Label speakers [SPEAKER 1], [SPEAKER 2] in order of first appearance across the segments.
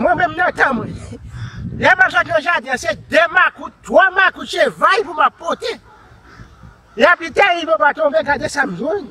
[SPEAKER 1] Mwen menm nan tan mwen Lè mwen sot nan jaden se 2 makout 3 makout se vay pou mwen pote Lè pli tè yi mwen pa tonbe gade sa mwen jwenn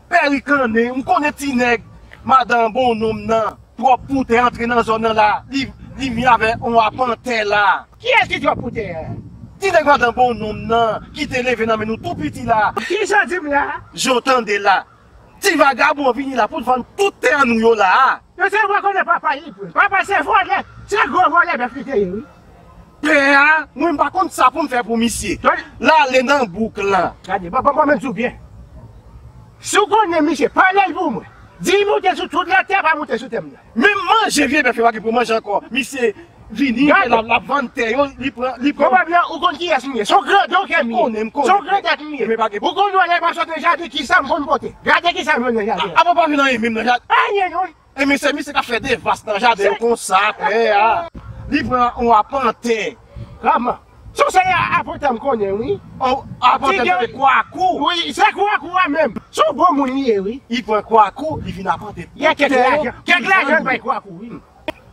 [SPEAKER 2] Perik lan nen m konnen ti nèg madan bon nonm nan trop pou tè antre nan zòn nan la li mi avè on apan tè la. Kiyès ki trop pou tè?
[SPEAKER 1] Ti nèg madan
[SPEAKER 2] bon nonm nan ki te leve nan men nou tou piti la. Kisa di m la?
[SPEAKER 1] Jan w tande la.
[SPEAKER 2] Ti vagabon an vini la pou l vann tout tè nou yo la a. Yo te rekonèt papa
[SPEAKER 1] li vre. Papa se vòlè. Se gwo vòlè bèf li te ye wi. Pè a
[SPEAKER 2] mwen pa konn sa poum fè pou misye lale nan bouk lan. Gade bon bon menm diw byen.
[SPEAKER 1] Si w konnen misye palel pou mwen. Di moute sou tout la tè pa moute sou tèm nan. Menm manje vye
[SPEAKER 2] bèf yo pa gen pou manje anko misye vini lap vann tè yo li pran li pran. Pwobableman ou konn
[SPEAKER 1] kiyes m ye son grandon ke m ye son grandèt m ye ou konn yon nèg map sot nan jaden kisam konn pote gade kisam jwenn nan jaden. Apa w pa vin anyen menm nan
[SPEAKER 2] jaden. Anyen non E
[SPEAKER 1] misye misye kap fè
[SPEAKER 2] devas nan jaden l konsa klè a. Li pran on apantè. Kman.
[SPEAKER 1] Son se apantè m konnen wi. On apantè m
[SPEAKER 2] tande kwakou. Wi se kwakou a
[SPEAKER 1] menm. Son bon moun li ye wi. Li pran kwakou
[SPEAKER 2] li vin apantè. Gen kèk lajan.
[SPEAKER 1] Kèk lajan l bay kwakou wi.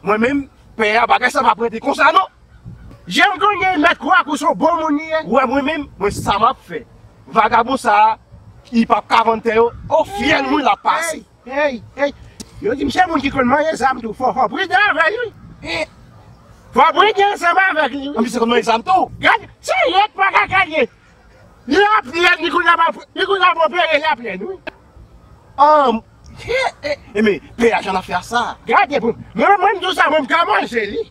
[SPEAKER 1] Mwen menm
[SPEAKER 2] pè a bagay sa pa prete konsa non. Janm
[SPEAKER 1] konnen mèt kwakou son bon moun li ye. Ou wè mwen menm mwen
[SPEAKER 2] sa map fè. Vagabon sa li pap ka vann tè yo. On fyèl mwen lap pase. Hey hey
[SPEAKER 1] yo dim se moun ki konn manye zam tou fò fò priden avèl wi eh fò priden ansanm avèk li wi anpi se konn manye zam tou
[SPEAKER 2] gad se lèd
[SPEAKER 1] pa kaka liye li ap lèd li konn ap li konn ap opere lap lèd wi anm eh eh
[SPEAKER 2] eh men peyaj an ap fè a sa gade pou mwen
[SPEAKER 1] mwen mdousa mwen mka manje li.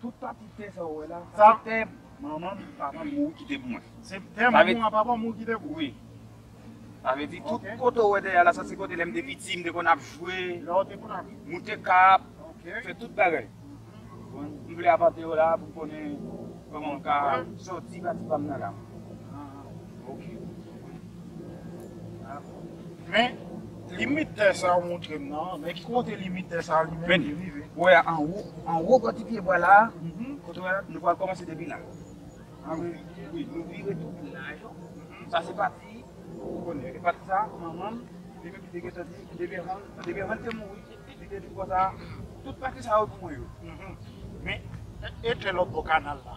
[SPEAKER 3] Tout pati tè sa ou wè la, sa se tè
[SPEAKER 1] manman m,
[SPEAKER 3] papa m mouri kite pou mwen. Se tè manman w ak
[SPEAKER 1] papa w mouri kite pou ou? Wi.
[SPEAKER 3] Sa vle di tout kote ou wè dèyè la, sa
[SPEAKER 1] se
[SPEAKER 3] kote lè m te piti, m te konn ap jwe,
[SPEAKER 1] moute kap,
[SPEAKER 3] fè tout
[SPEAKER 1] bagay.
[SPEAKER 3] M vle apante yo la pou m konnen kòman m ka soti pati pa m nan la.
[SPEAKER 1] Ok mwen konprann. Men limit tè sa ou montrem nan, men ki kote limit tè sa li menm li rive? Ou wè
[SPEAKER 3] anwo, anwo bò ti pye bwa la, kote ou wè la, nou pral kòmanse depi la. Ah wi. Wi, nou vire tout laj yo. Sa se pati ou konnen. E pati sa, manmanm li menm li te gentan di, depi anvan, depi anvan li te mouri, li te di konsa, tout pati sa yo pou mwen yo. Men,
[SPEAKER 1] e tè lòt bò kanal la?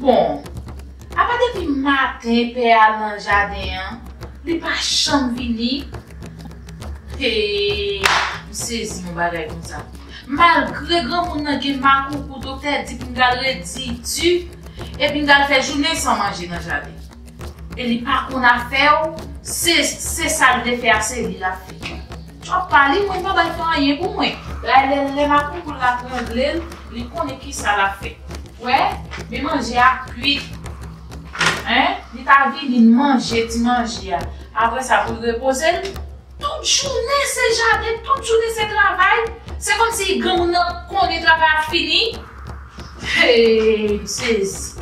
[SPEAKER 4] Bon, apa depi maten pè a nan jaden an, li pa janm vini? Hee, m sezi yon bagay konsa. Malgre granmoun nan gen makoukou doktè di pou m t al redi di epi m t al fè jounen san manje nan jaden. E li pa konn afè w, se sa l vle fè a se li l ap fè. Trump pa li mwen pa bay fan anyen pou mwen. Raylel lè makoukoul la tranblel li konnen kisa lap fè. Wè Men manje a ap kwit hein li ta vini manje ti manje a aprè sa poul repoze l. Tout jounen se jaden tout jounen se travay se kòmsi granmoun nan konnen travay ap fini heyy m sezi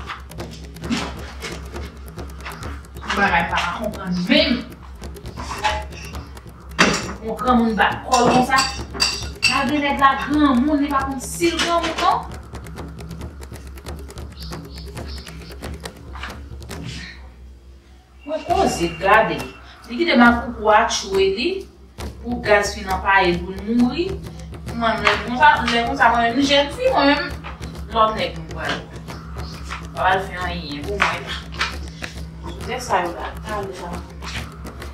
[SPEAKER 4] yon bagay m paka konprann menm. On granmoun bat kòl konsa. Malgre nèg la granmoun li pa konn sil granmoun non. Mwen koze gade li kite makoukou a tchwe li pou gaz fin anpayel poul mouri. Mwen menm konsa lè konsa mwen menm jèn fi mwen menm lòt nèg mwen pral mwen pral fè anyen pou mwen. Sou nèg sa yo la talè sa.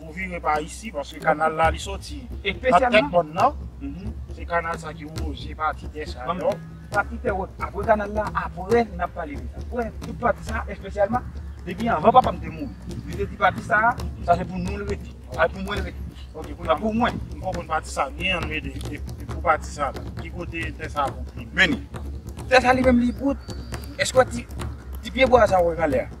[SPEAKER 1] Ou vire pa isi paske kanal la li soti nan tèt mòn
[SPEAKER 3] nan
[SPEAKER 1] se kanal sa ki woze pati tè sa yo. Pati tè wot
[SPEAKER 3] apre kanal la apre nap pale de sa. Wè tout pati sa espesyalman depi anvan papa m te mouri li te di pati sa sa se pou nou l rete sa se pou mwen l rete ok kounye a pou mwen. M konprann pati sa
[SPEAKER 1] byen an men e pou pati sa la ki kote tè sa pou vini. Meni
[SPEAKER 3] tè sa li menm li pou eske wè ti pyebwa sa ou wè kanlè a.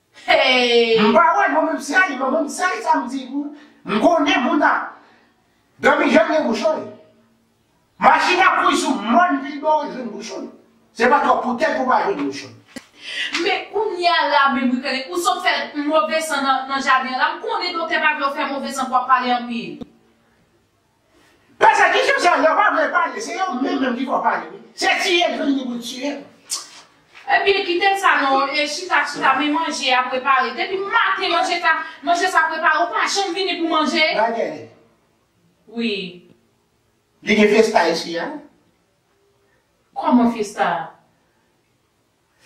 [SPEAKER 4] Hey! M pa wè non menm seri
[SPEAKER 1] non menm seri sa m di pou ou m konnen moun ap Domi jan gen bouchon li Machin ap kouri sou mòn vilba ou jwenn bouchon l Se pa twòp poutèt ou pa jwenn bouchon l. Men
[SPEAKER 4] kounya la menm wi Kenneth ou sot fè move san nan jaden an la m konnen doktè pa vle w fè move san pou w ap pale anpil.
[SPEAKER 1] Pèsekisyon sa yo pa vle pale se yo menm menm ki fò pale wi se tiye yo vini pou tiye nou.
[SPEAKER 4] Ebyen kite sa non e chita chita men manje a prepare depi maten manje sa manje sa prepare ou pa janm vini pou manje. Bagay.
[SPEAKER 1] Wi. Li gen festa isi a?
[SPEAKER 4] Kòman festa?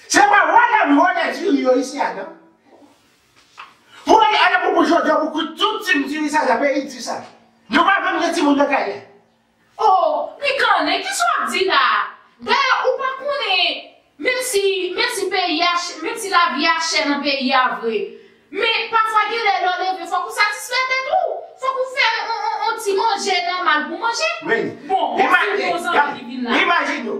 [SPEAKER 1] Se pa vwa nèg vo nèg diri yo isi a nan. Pou ale ale pou pou jodi a pou kout tout team diri sa nan peyi di sa. Nou pa menm gen timoun nan kay la. Oh
[SPEAKER 4] pikannen kisa wap di la dayè ou pa konnen menm si menm si peyi a chè menm si lavi a chè nan peyi a vre men pafwa genlè lè w leve fòk ou satisfè tèt ou fòk ou fè on on ti manje nòmal pou manje bon bon ti
[SPEAKER 1] bon
[SPEAKER 4] zanmi ki vin la. Imajine w.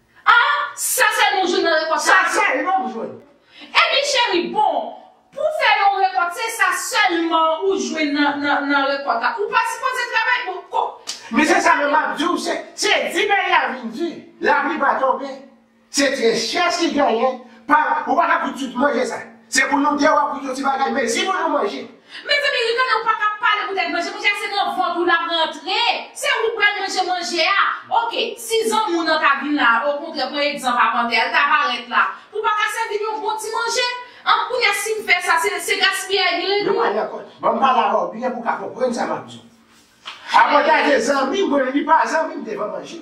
[SPEAKER 1] Ah
[SPEAKER 4] sa sèl yon jwenn nan rekòt sa. Sa sèl yon
[SPEAKER 1] jwenn. Epi cheri
[SPEAKER 4] bon Pou fè yon rekòt se sa sèlman ou jwenn nan nan rekòt la ou pa sipoze travay bon ko. Men se sa menm map
[SPEAKER 1] diw se se di peyi a vin di lapli pa tonbe se trè chè si genyen pa ou paka kout tout manje sa. Se pou nou de wap goute yon ti bagay mezi pou nou manje. Mezanmi Ricardo
[SPEAKER 4] ou paka pale pou tèt manje, manje a se nan vant ou lap rantre, se ou pral manje manje a, ok si zanmi w nan ta vin la a okontrè pran egzanp a panter a li ta parèt la pou paka sèvi l yon bon ti manje, an kounya sim fè sa se gaspiyay li rele. Nou pral nan kòd. Banm
[SPEAKER 1] pale avèw byen pou ka konprann sa map diw. A panter a te zanmi mwen li pa zanmi m devan manje.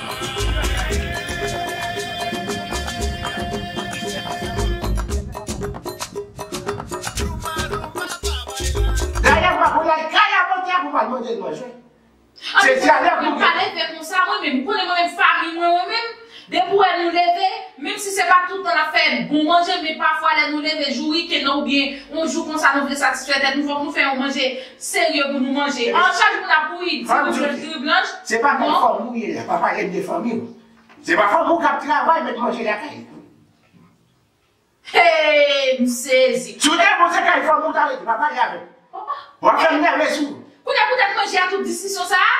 [SPEAKER 1] Dayè mwen voye kay a manje a pou mal manje l manje. Annou fè sa mwen pa leve konsa mwen menm
[SPEAKER 4] konnen mwen menm fanmi mwen mwen menm depi wè nou leve menm si se pa tout tan nap fè bon manje men pafwa lè nou leve jou weekend nan oubyen yon jou konsa nou vle satisfè tèt nou fòk nou fè yon manje Serye pou nou manje. An chak moun ap bouyi di moun jwenn diri blanch. Se pa bay fanmi ou
[SPEAKER 1] ye la papa ede fanmi ou. Se pa fanmi ou kap travay met manje lakay ou. Heyy
[SPEAKER 4] m sezi. Si w te bon se kay
[SPEAKER 1] fanmi w ta rete pa pale avem. Wap fem nève sou. Kounye pou tèt manje a
[SPEAKER 4] tout diskisyon sa a?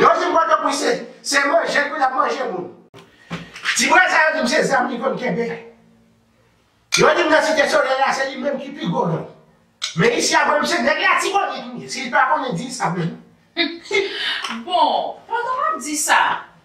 [SPEAKER 1] Yon ti bwa tanpri se se manje pu lap manje moun. Ti bwa sa yo dim se zam li konn kenbe. Yo dim nan site soley la se li menm ki pi gwo gang. Men isi a banm se neg latibonit wi, sil pa konnen dil sa menm. Bon,
[SPEAKER 4] pandan wap di sa.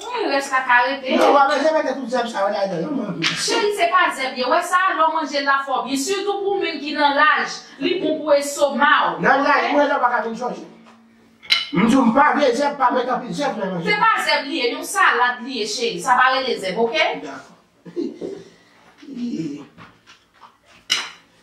[SPEAKER 4] Wi rès la ka rete. Non wap manje mete tout
[SPEAKER 1] zèb sa yo ladan yo non tou. Cheri se pa zèb
[SPEAKER 4] ye wè sa lè w manje l la fò byen sitou pou mun ki nan laj li bon pou esoma w ok. Nan laj mwen la ou paka
[SPEAKER 1] vin chonje. M di w m pa vle zèb pa met anpil zèb nan manje m. Se pa zèb li ye yon
[SPEAKER 4] salad li ye cheri sa pa rele zèb ok. Dakò.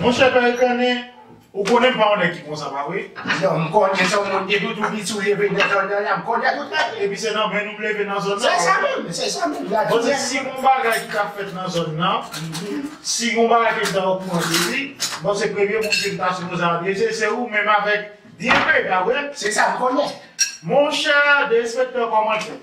[SPEAKER 3] Monchè pè Rennen, ou konnen m pa yon nèg ki konsa pa vre? Yo, m konnen sa
[SPEAKER 1] w monte tout ou piti w leve nan zòn nan la, m konnen tout sa. Epi se nan 20 nou m leve
[SPEAKER 3] nan zòn nan. Se sa menm, se sa
[SPEAKER 1] menm. Bon se si gon
[SPEAKER 3] bagay ki ta fèt nan zòn nan, si gon bagay ke m ta okouran de li, bon se premye moun ke m ta sipoze adrese se ou menm avèk DNP, pa vre? Se sa m konnen.
[SPEAKER 1] Monchè
[SPEAKER 3] DSP kòman l fèt?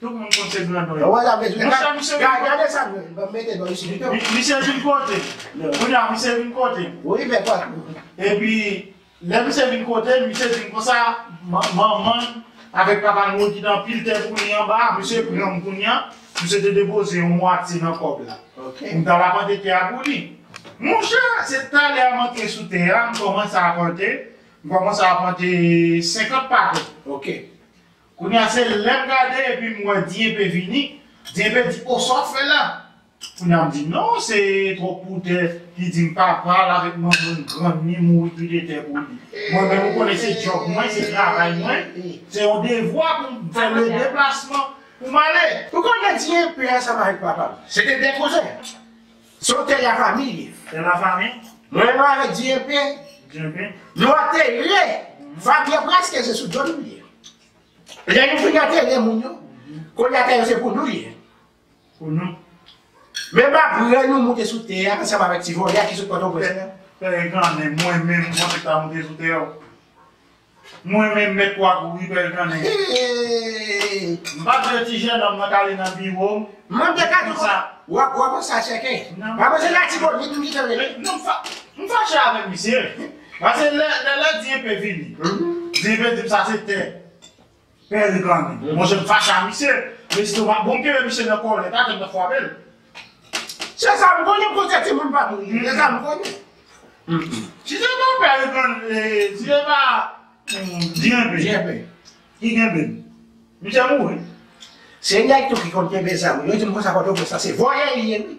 [SPEAKER 1] Tout moun konn se grandon
[SPEAKER 3] yo. Wè sa vle di. Misye misye vin
[SPEAKER 1] kote. Gade sa vle di. Banm mete dlo isi pito. Misye vin kote.
[SPEAKER 3] Kounye a misye vin kote. Wi fè pòt.
[SPEAKER 1] Epi
[SPEAKER 3] lè misye vin kote l, misye di m konsa, Manman l avèk papa l mwen ki te anpile tè pou li anba a, misye pran m kounye a, misye te depoze yon mwatye nan kòb la. Ok. Pou m t al apante
[SPEAKER 1] tè a
[SPEAKER 3] pou li. Monchè, se talè a m antre sou tè a, m kòmanse apante, m kòmanse apante 50 pakèt. Ok.
[SPEAKER 1] Kounya
[SPEAKER 3] se lèm gade epim wè Diempe vini, Diempe di oh sa wap fè la? Kounya m di non se twòp poutè ki dim pa pral avèk manmann grann ni mouri pi detè pou li. Mwen menm ou konnen se djòb mwen, se travay mwen, se yon devwa poum fè le deplasman poum ale. Ou konnen Diempe
[SPEAKER 1] a sa pa avèk papal, se te de koze. Son tè ya famille. Tè la famille.
[SPEAKER 3] Mwen menm avèk
[SPEAKER 1] Dieupe. Dieupe. Nou antere. Famille preske se sou do nou li ye. Lè nou fin antere moun yo. Kounye a tè yo se pou nou li ye. Pou
[SPEAKER 3] nou. Menm
[SPEAKER 1] aprè nou moute sou tè ya ansanm avèk ti vòlè a ki sot pòtoprens la. Pè Egan men mwen
[SPEAKER 3] menm mwen paka moute sou tè yo. Mwen menm met wa kouri bel kanè.
[SPEAKER 1] M
[SPEAKER 3] pa vle ti jenòm nan kale nan biwo m. Manm de kay tou konsa.
[SPEAKER 1] Wa panse a chèkè. Wa panse latibonit ou kite l rele. Non
[SPEAKER 3] m fache avèk misye. Pase lè di enpe vini. Di enpe di m sa se tè. Pè reklame. Monchè m fache a misye. Lestomak bon m kenbe misye nan kòlèt a tèlman m fwape l. Se
[SPEAKER 1] sa m konnen koze timoun pa m se sa m konnen. Si se pa
[SPEAKER 3] pè reklame si se pa jenbe
[SPEAKER 1] ki kenbe
[SPEAKER 3] l misye mouri.
[SPEAKER 1] Se nèg tou ki konn kenbe zam wi yo di m konsa kote w pran sa se vòlè li ye wi.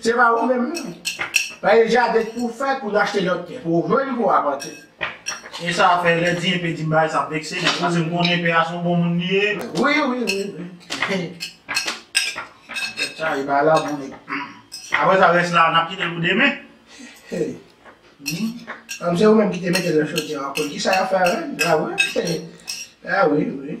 [SPEAKER 1] Se pa ou menm non. Pagen jaden pouw fè pou achte lòt tè pouw vann pou apante. E sa
[SPEAKER 2] fè lè di enpe dim bagay sa ap vekse m paske m konnen enpe a son bon moun li ye. Wi wi wi wi. Nèg sa e bay la bon nèg. Aprè sa rès la nap kitel pou demen.
[SPEAKER 1] Kòm se ou menm ki te metel nan chodyè an konn kisa yap fè avèl la wi. A wi wi.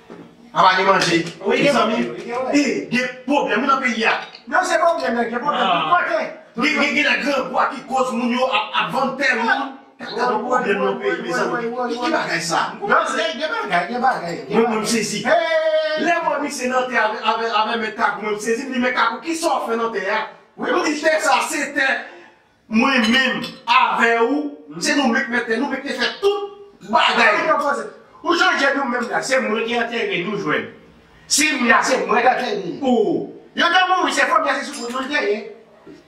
[SPEAKER 2] A pa gen manje wi mezanmi e gen pwoblèm wi nan peyi a. Menm se pwoblèm nèg gen pwoblèm tout kote. Gen gen nan grangwa ki koz moun yo ap vann tè moun. Gad yon pwoblèm nan peyi mezanmi. Ki ki bagay sa. Nan se gen bagay gen bagay. Mwen mwen m sezi. Lè m wè misye nan tè avè mèt kakou mwen m sezi m di mèt kakou kisa w fè nan tè a. Ou di tè sa se tè Mwen menm avè ou m se nou menk mete nou menk te fè tout bagay. Ou chanje nou menm la se mwen ki antere nou jwenn si m la se mwen k antere ou yo te mouri se fòmye se soumoun nou te ye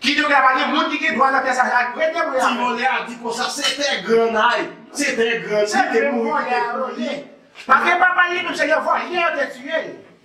[SPEAKER 2] ki te ka pa gen moun ki gen dwa nan tè sa ak vre te mouri avè. Ti vòlè a di konsa se tè granay se tè grann li te mouri ki te pou li. Paske papa li menm se yon vòlè yo te tiye l.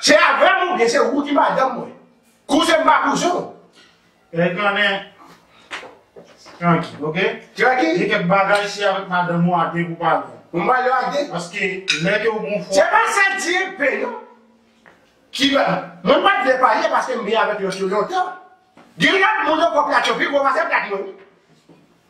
[SPEAKER 2] Se avèm ou byen se ou ki madanm mwen. Kouzen m pa kouzen w. Erik lan
[SPEAKER 1] nen Tranky ok. Tranky. Gen kèk
[SPEAKER 2] bagay se
[SPEAKER 1] avèk madanm ou a de pou pale. Ou m pale a de.
[SPEAKER 2] Paske lè ke
[SPEAKER 1] ou gon fwa. Se pa sa DP
[SPEAKER 2] non. Ki ba. Mwen pa vle pale paske m byen avèk lòt yo lontan. Gen lòt moun ankò plat yo pi gwo pase plat mwen wi.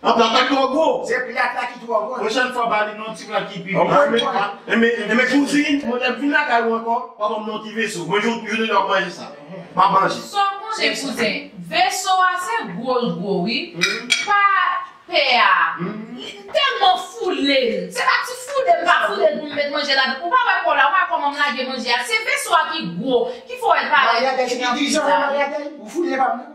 [SPEAKER 2] An papa twò gwo. Se plat la ki twò gwo. Pwochèn fwa ba li non ti
[SPEAKER 1] plat ki pi gwo.
[SPEAKER 2] Enben kouzin, mwen mèt vin lakay ou ankò, w'ap ban m' non ti veso. Mwen jwenn ou lè w'ap manje sa. M'ap manje. Sa w konnen kouzen,
[SPEAKER 4] veso a se gwo l gwo wi, pa pè a, li tèlman foule l, se pa ti foule m pa foule l pou m met manje ladan, ou pa wè kò la, ou pa wè kòman m lage manje a, se veso a ki gwo, ki fè w wè l parèt pi gran ke sa. Maryadèl,
[SPEAKER 2] ou foule pa m nan.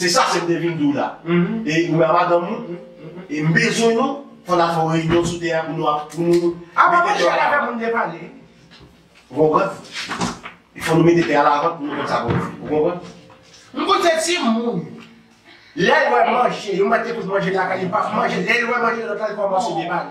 [SPEAKER 2] Se sa sèm te vin diw la. E ou menm a madanm ou, e m bezwen nou, fò n al fè yon reyinyon sou tè a pou nou ap, pou nou mete tè a
[SPEAKER 1] lavan. Ou
[SPEAKER 2] konprann? E fò nou mete tè a lavan pou nou konn sa pou nou fè. Ou konprann? M konn se
[SPEAKER 1] timoun, lè l wè manje, yon bat te koz manje lakay li, li pa manje, lè l wè manje lòt la li kòmanse depale.